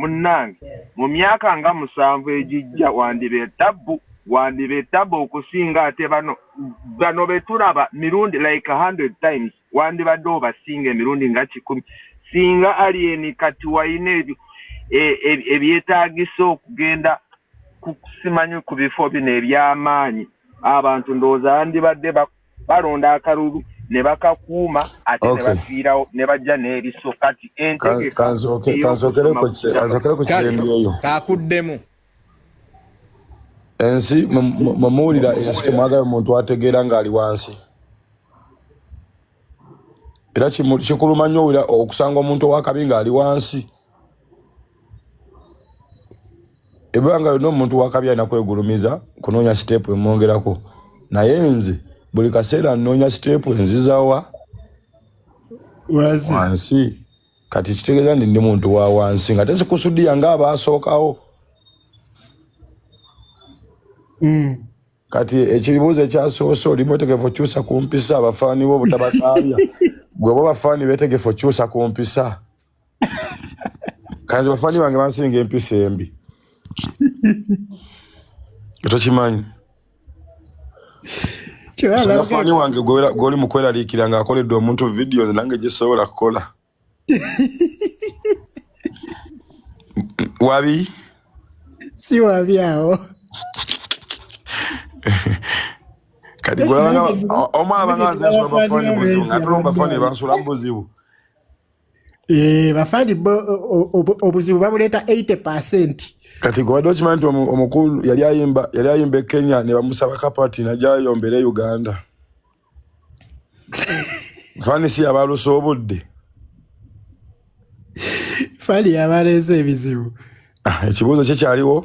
Munnange, mu myaka nga musanvu egijja wandiba etabbu, wandiba etabbu okusinga ate bano bano be tulaba mirundi like hundred times, wandibadde obasinga emirundi nga kikumi singa aliyeni kati walina ebyo e, e, ebyetaagisa okugenda kusimanyi ku bifo bino eby'amaanyi abantu ndowooza yandibadde balonda akalulu ne bakakuuma ate ne bafiirawo ne bajja n'ebiso kati entegekanzokerekukiremyoyo kakuddemu ensi mumuwulira ensi temwagala omuntu ategeera ng'ali wansi era kikuluma nnyo owulira okusanga omuntu owakabi ng'ali wansi ebanga yona omuntu wakabya nakwegulumiza kunonya sitepu emwongerako naye nze buli kaseera nonya sitepu enzizawa wansi kati kitegeeza ndi ndi muntu wa wansi nga tezikusudiya nga abaasookawo mm. kati ekibuuzo ekyasoose oli mwetegefu okyusa ku mpisa abafaani bo obutabataabya gwe bo bafaani betegefu okyusa ku mpisa kanzi bafani bange bansinga empisa embi tokimanyi fani wange gwoli mukweraliikira nga akoledde omuntu vidiyo nze nange gyesobola kukola wabi si wabi awo kati omwana bangaanzensula bafani buzibu nga tulomba fani bansula mubuzibu Eh, bafandi bo obuzibu babuleeta 80 percent kati gwewade okimanyi nti omukulu yali ayimba yali ayimba e kenya ne bamusaba kapati najayombera e uganda fani si yabalusa obudde fani yabaleza ebizibu ah, ekibuuzo kye kyaliwo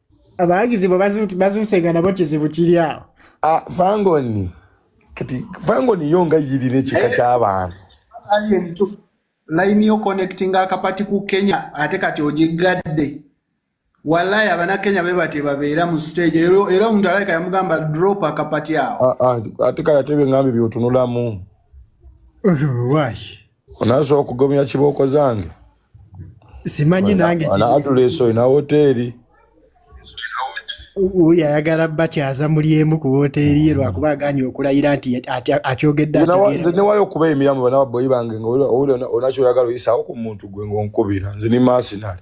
abawagizi bwe bazuuse nga nabo kizibu kiri awo ah, fangoni kati fangoni yo nga yirina ekika eh. ky'abantu layini yo connectinga akapati ku kenya ate kati ogigadde wallayi abanakenya be batye babeera mu stage era omuntu alaika yamugamba drop akapati awo ah, ah, ate kale ate byeŋambi byotunulamu Onaso okugomya kiboko zange. Simanyi nange kiri. Ana atuleso ina hoteli. Uyu ayagala bakyaza muli emu ku hoteli ye lwakuba aganye okulayira nti akyogedde ategeera. Nze newayo okuba emiramu bana baboyi bange nga oli onakyo oyagala oyisaawo ku muntu gwe ng'onkubira nze ni masinali.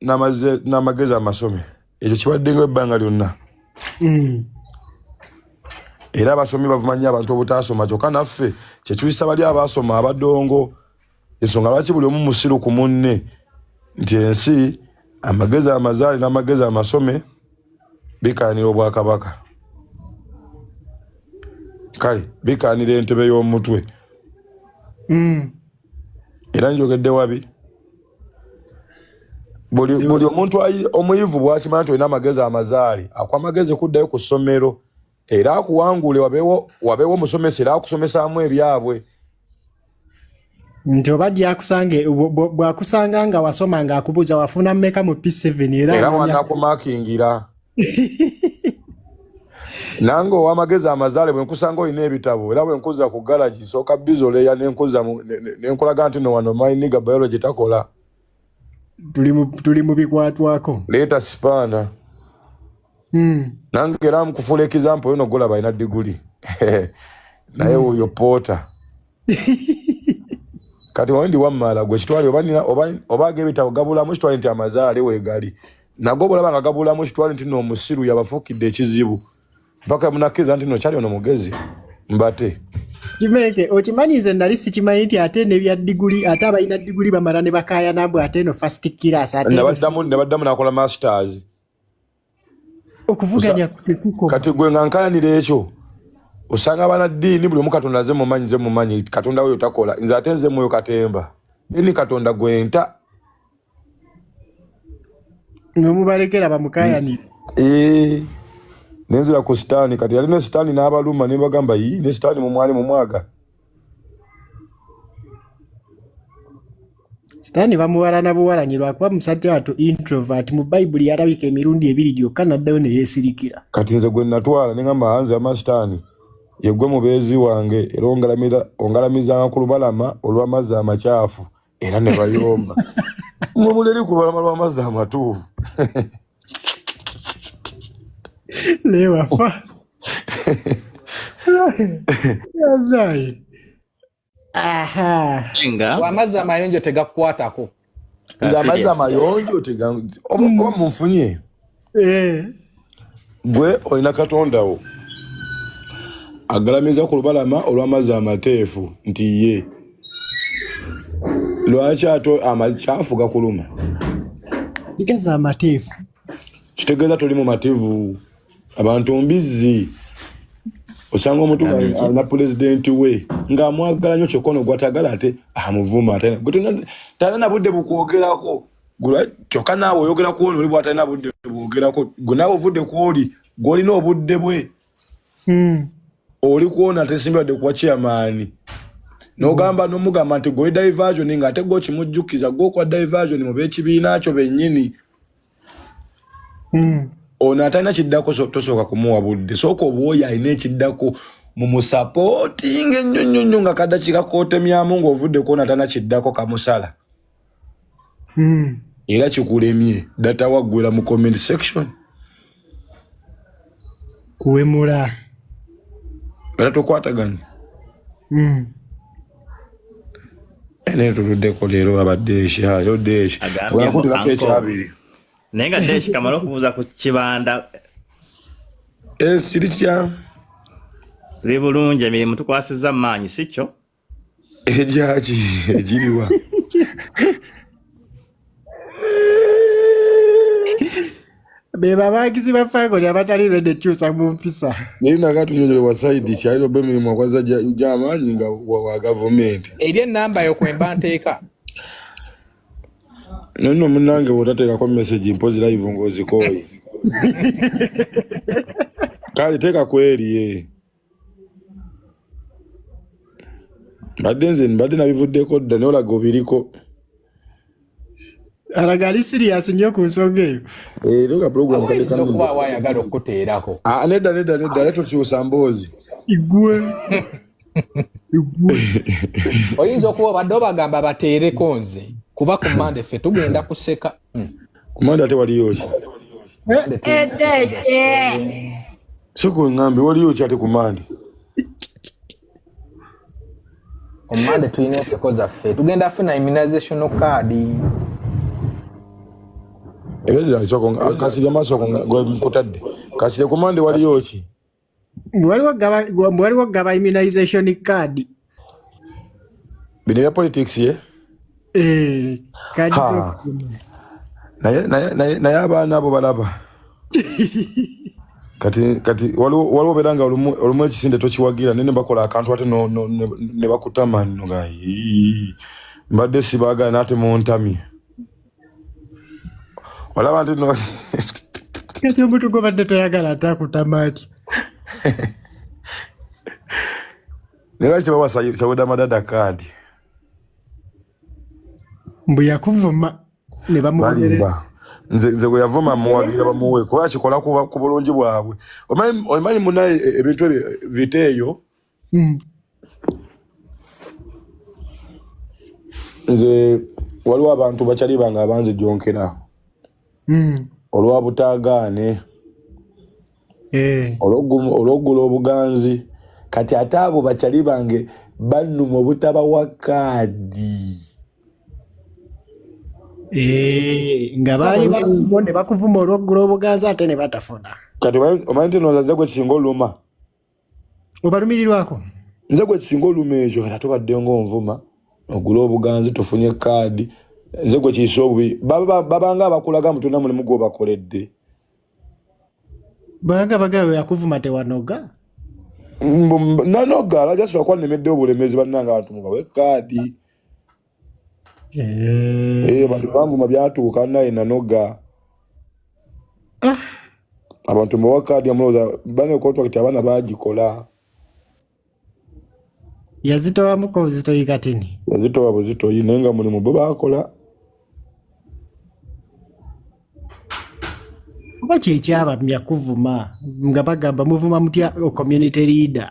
n'amagezi amasome ekyo kibaddenga ebbanga lyonna mm. era abasomi bavuma nnyo abantu obutaasoma kyokka naffe kyetuyisa bali abaasoma abadongo ensonga lwaki buli omu musiru ku munne nti ensi amagezi amazaali n'amagezi amasome bikaanira obwakabaka kale bikaanira entebe y'omutwe mm. era njogedde wabi buli buli omuntu omuyivu bwakimanyi nti olina amagezi amazaali akuwa amagezi kuddayo ku ssomero era akuwangule wabeewo wabeewo omusomesa era akusomesaamu ebyabwe nti oba gyakusanga bwakusanga nga wasoma nga akubuuza wafuna mumeka mu p7 era era wanakumakingira nange owamagezi amazaale bwenkusanga olina ebitabo era bwenkuza ku garagi sooka bizoleya nenkuza nenkulaga nti no wano myniga biology takola tuli mu bikwatwako leeta sipaana hmm. nange era mukufuula ekizampo yono golaba alina diguli naye hmm. oyo poota kati wandi wammala gwe kitwale oba agebitabo gabulamu kitwale nti amazaale wegali nago obulaba nga gabulamu kitwale nti no omusiru yabafukidde ekizibu mpaka munakiriza nti no kyali ono mugezi mbate kimeke okimanyi nze nali sikimanyi nti ate nebya diguli ate abalina diguli bamala ne bakaya nambu ate no fast kiras ate nabaddamu nabaddamu nakola masters okuvuganya kuko kati gwe nga nkayanira ekyo osanga abana dini buli omu katonda nze mumanyi nze mumanyi katonda weyo takola nze ate nze mwoyo katemba eni katonda gwenta nomubalekera bamukayanire eh, nenzira ku sitaani kati yali ne sitaani n'abaluma ne bagamba yi ne sitaani mumwali mumwaga sitaani bamuwalana buwalanyi lwakuba musajja watu introvert mu bayibuli yalabika emirundi ebiri gyokka naddayo ne yeesirikira kati nze gwe natwala ne ngamba hanze ama sitaani yegwe mubeezi wange era ongalamizanga ku lubalama olw'amazzi amakyafu era ne bayomba mwe mulere ku lubalama lw'amazzi amatuufu lewafa amazzi amayonjo tegakukwatako amazzi amayonjo oba munfunye eh. gwe olina katonda wo agalamiza ku lubalama olw'amazzi amateefu nti ye lwaki ate amakyafu gakuluma kitegeeza amateefu kitegeeza toli mu mativu abantu mbizzi osanga omuntu alina pulezidenti we ng'amwagala nyo kyokka ono gwatagala ate amuvuma talina budde bukwogerako kyokka naawe oyogera ku ono oli bwatalina budde bwogerako gwe naawe ovudde ku oli gwolina obudde bwe hmm. oli kwona tesimbadde kuwa chairmaani nogamba nomugamba nti gwe diversion nga ate gwokimujjukiza gwokwa diversion mu bekibiina kyo bennyini hmm. ono atalina kiddako tosooka kumuwa budde sooka obwoyo alina ekiddako mumusapootinga ennyo nnyo nnyo nga kadakiika kotemyamu ng'ovudde kwona atalina kiddako kamusala mm. era kikulemye data waggwera mu comment section kuwemula era tokwataganye mm. naye tuluddeko leero abadde ekyayo desh olakutulako ekyabiri naye nga desh kamala okubuuza ku kibanda ekiri eh, kya biri bulungi emirimu tukwasiza maanyi si kyo Ejaji ejiriwa beba bagizi ba family abatali ready kyusa mu mpisa naye nakatunyonyole wa side kyaliro be mirimu akwaza gyamaanyi nga wa gavumenti eri enamba yo kwemba nteeka naye no munange bwotateekako message mpozi live ng'ozikooye kale teeka kweri mbadde nze mbadde nabivuddeko dda naye olaga obiriko alaga ali sirias nnyo ku nsonga eyo era eh, nga pulogulamu kaekuba wayagala okukuteerako ah, nedda nedda nedda ale tokyusa mboozi igwe oyinza okuba obadde obagamba bateereko nze kuba ku mande ffe tugenda kuseka hmm. kumanda ate waliyo ki sikuwe ngambe waliyo ki ate kumande omumande tulina enseko zaffe tugenda funa immunization card ebedira kasiri amaaso kutadde kasiri kumande waliyo ki waliwo gaba immunization card bino bya politics ye eh, naye abaana abo balaba kati kati waliwo beera nga olumu ekisinde tokiwagira naye nebakola akantu ate nebakutama nga mbadde sibagala naate muntamye olaba nti no kati omuntu gwobadde toyagala ate akutamaaki naye lwaki tebawa sawuda madada kaadi mbu yakuvuma ne bamubonereza nze nze bwe yavuma muwabira bamuwe kuba kikola ku bulungi bwabwe omanyi munaye e, ebintu ebyo vita eyo mm. nze waliwo abantu bakyali bange abanze jonkera mm. olwa butagaane eh. olwogula obuganzi kati ate abo bakyali bange bannuma obutabawa kaadi eh, nga baali baliwo ne bakuvuma olwogula obuganzi ate ne batafuna kati omanyi nti nozaze gwe singa oluma obalumirirwako nze gwe kisinga oluma ekyo kata tubadde ngaonvuma ogula obuganzi tufunye kaadi nze gwe kiisa obubi babanga abakulaga mutuna mulimu gwobakoledde banga bagawe akuvuma tewanoga nanoga alajasobola kuba nemedde obulemezi bannanga abantu mubawe kaadi eyo bantu bamvuma byatuuka naye nanoga ah. abantu mbawa kaadi yamulowooza bane kontrakiti abaana bagikola yazitowamuko buzitoyi katini yazitowa buzitoyi naye nga mulimu bo bakola oba kyekyabamya kuvuma nga bagamba muvuma mutya community leader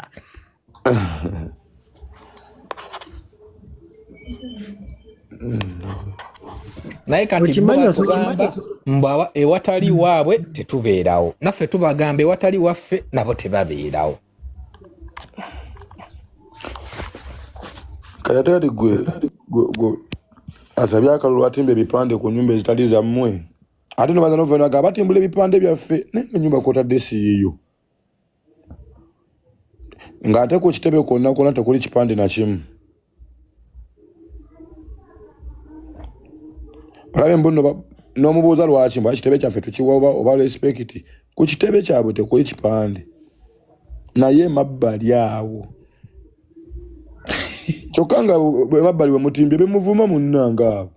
naye kati mbawa ewatali waabwe tetubeerawo naffe tubagamba ewatali waffe nabo tebabeerawo kayateri gwe asabye akalulu atimba ebipande ku nyumba ezitali zammwe ate nobaza novenaga abatimbula ebipande byaffe naye enyumba kwotadde siyiyo ng'ate ku kitebe kwonna kwonna tekuli kipande na kimu olabe mbuno n'omubuuza lwaki mbu kitebe kyaffe tukiwa oba oba respekiti ku kitebe kyabwe tekuli kipande naye mabbali awo kyokka nga emabbali wemutimbye bemuvuma munnange abo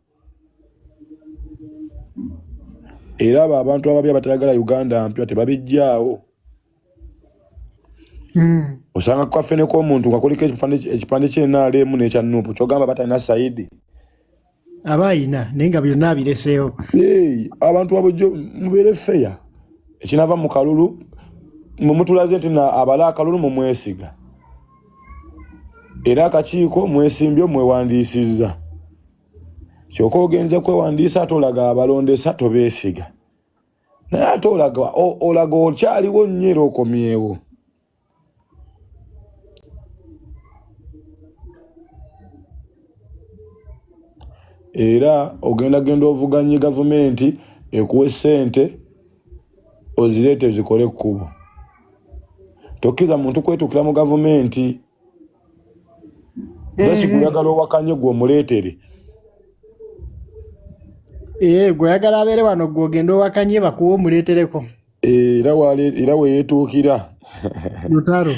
era abo abantu ababi abatayagala uganda mpya tebabijjaawo hmm. osanga kukafeneko omuntu nga kuliko ekipande kyenalemu nekya nupu kyogamba batalina saidi aba ayina naye nga byonna abireseewo abantu abujjo mubeere feya ekinava mu kalulu mumutulaze nti abala akalulu mumwesiga era akakiiko mwesimbyo mwewandiisizza kyoka ogenze kwewandiisa ate olaga abalondesa tobeesiga naye ate olaga olaga okyaliwo nnyo era okomyewo era ogenda genda ovuganye gavumenti ekuwa essente ozireete zikole ekkubo tokkiriza muntu kwetuukira mu gavumenti Basi mm-hmm. kuyagala owakanye gwe omuleetere ee eh, gweyagala abeere wano gwe ogenda owakanye bakuwa omuleetereko eh, era weyetuukira lutaro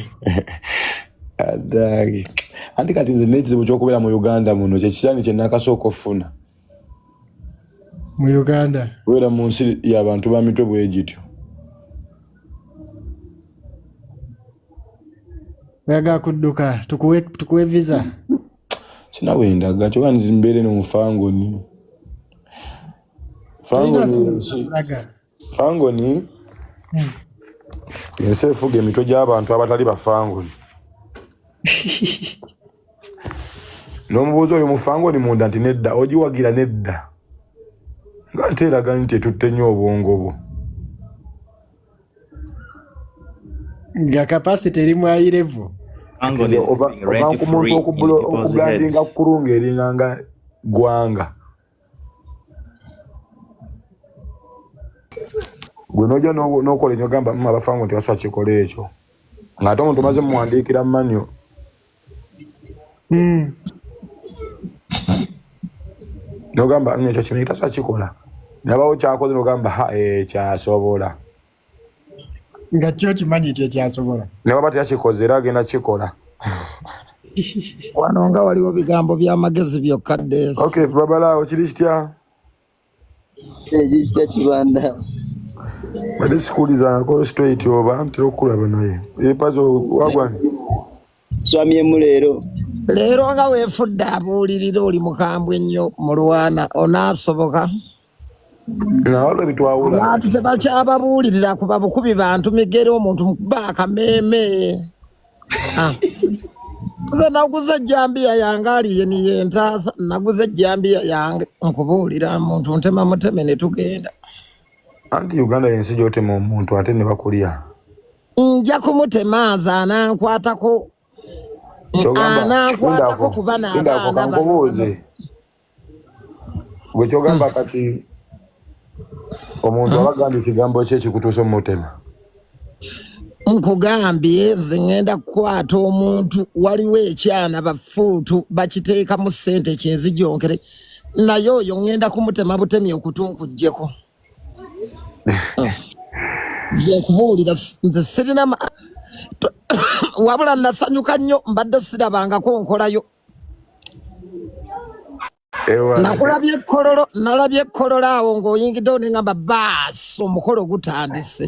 adage anti kati nze nekizibu kyokubeera mu uganda muno kyekisani kyenakasooka okufuna mu uganda wera mu nsi yabantu ba mitwe bwegityo oyaga kudduka tukuwe tukuwe visa sinawe ndaga kyoba nzimbeere no mufangoni fangoni fangoni hmm. ensi efuga emitwe gy'abantu abatali bafangoni n'omubuuzi oyo mufangoni munda nti nedda ogiwagira nedda nga ate eraga nti etutte nnyo obwongo bwo nga kapasite eri mwayirevu oba ku muntu okubulandinga kukulunga eringa nga ggwanga gwe noja nokola enyo gamba mma bafango nti wasa kikola ekyo ngaate omuntu omaze muwandiikira manyo hmm. nogamba ekyo kino kitasa kikola nabawo kyakoze nogamba ha eh, kyasobola nga kyo kimanyi nti ekyasobola ne baba tekyakikoze era agenda kikola wano nga waliwo bigambo by'amagezi byokka des ok babalaawo kiri kitya ekikitya kibanda bade sikuulizangako straight oba ntera okukulaba naye epazo wagwani twamyemu leero leero nga weefudde abuulirira oli mukambwe nnyo mulwana onaasoboka abantu tebakyababuulirira kuba bukubi bantu migere omuntu mukuba akameeme ah. nze naguze ejjambiya yange aliye niye ntaasa naguze ejjambiya yange nkubuulira muntu ntema muteme ne tugenda anti uganda yensi gyotema omuntu ate ne bakulya nja kumutema nze anankwatako anankwatako kuba nabaana gwe kyogamba hmm. kati omuntu hmm. abagamba ekigambo kye kikutuusa omumutema nkugambye nze ŋenda kukwata omuntu waliwo ekyana bafuutu bakiteekamu ssente kinzijonkere naye oyo ŋenda kumutema butemi okutunkujjeko hmm. nze nkubuulira nze sirina wabula nasanyuka nnyo mbadde sirabangako nkolayo nakulabye ekkololo nalabye ekkololo awo ng'oyingiddewo ne ngamba baasi omukolo gutandise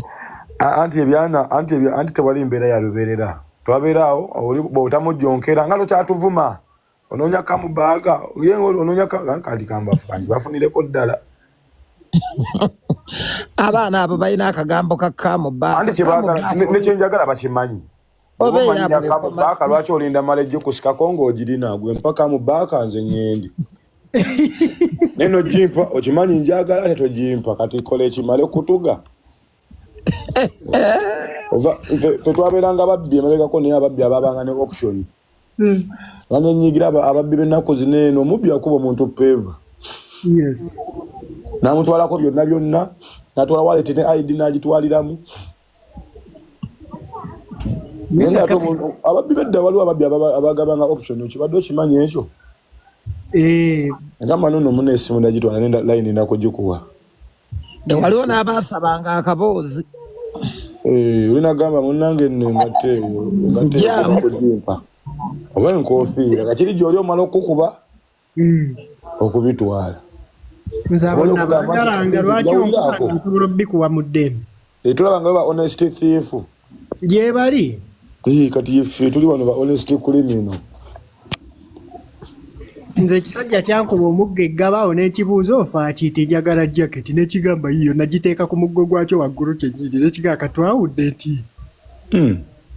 anti ebyana anti anti tewali mbeera ya lubeerera twabeera awo bwotamujjonkera nga tokyatuvuma onoonya kamubaaga onoonya kandi kambafu kandi bafunireko ddala abaana abo balina akagambo ka kamubaaga nekyenjagala bakimanyi obeyamubaaka lwaki olinda mala ejjo kusikako ngaogirina gwe mpaka mu baaka nze ngendi naye nojimpa okimanyi njagala ate tojimpa kati kola ekimale okutuga fe twabeeranga ababbi emabegako naye ababbi ababanga ne option hmm. nanenyigira ababbi bennaku zineeno omubbi akuba omuntu peeva namutwalako byonna byonna natwala waleti ne id nagitwaliramu ababbi bedda waliwo ababbi abagabanga option okibadde okimanyi ekyo eh. agamba nono muna esimu nagitwala nenda layini nakugikuwa waliwo n'abaasabanga akaboozi eh, oli nagamba munange nengate eyo oba enkofiira kakiri gyoli omala okukuba hmm. okubitwala nze abona bagalanga lwaki onkubana nsobola obikuwa mu ddembe etulaba nga ba honest thief gyebali kati ife tuli bano ba honest kulimino nze ekisajja kyankuba omugga eggabaawo n'ekibuuzo ofaaki ti njagala jaketi nekigamba yiyo nagiteeka ku muggo gwakyo waggulu kyenyini nekigaa katwawudde nti hmm.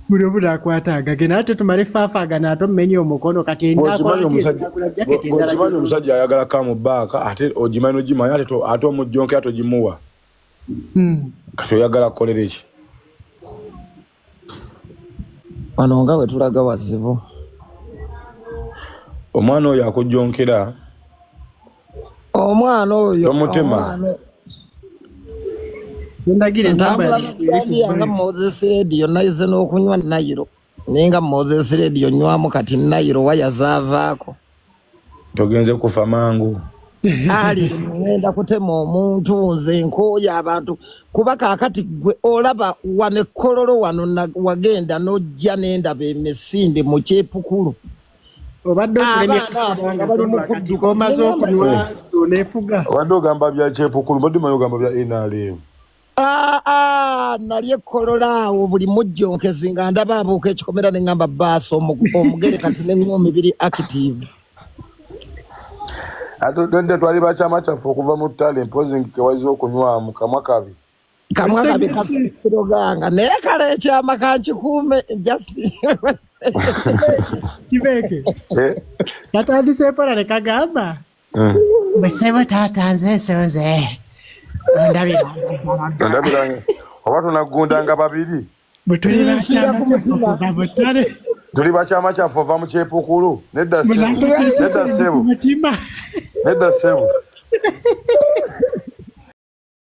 buli omu nakwata agage naye ate tumale faafagana ate omumenye omukono kati endakokimanyi omusajja ayagala kamu baaka ate ogimanyi nogimanyi ate ate omujjonkera togimuwa hmm. kati oyagala kukolera eki wano nga wetulaga wazibu omwana oyo akujjonkera omwana oyo tomutema ndagirentambulanga moses radio naize n'okunywa nayiro naye nga moses radio nywamu kati nayiro waya zaavaako togenze kufa mangu ali ngenda kutema omuntu nze nkooyo abantu kuba kakati gwe olaba wano ekkololo wano wagenda n'ojja n'endaba emisinde mu kyepukulu obadde okulemaomaze okunywa nefuga obadde ogamba bya kyepukulu mbadde maye ogamba bya nrm ah, ah, nali ekolola awo buli mujjonkezi nga ndaba abuuka ekikomera ne ngamba baasa omugere kati neŋomi biri active atudde twali bakyama kyaffe okuva mu ttale mpozi nkewayiza okunywamu kamwa kabi kamwa kabi kafiroganga naye kale ekyama kankikuume kibeeke eh? katandise empola ne kagamba eh. bwe sebo taata nze ensonze ondabiranga oba tunaggundanga babiri bwe tuli bakyama kyafukuva butale tuli bakyama kyaffe ova mu kyepukulu nedda sebu nedda sebu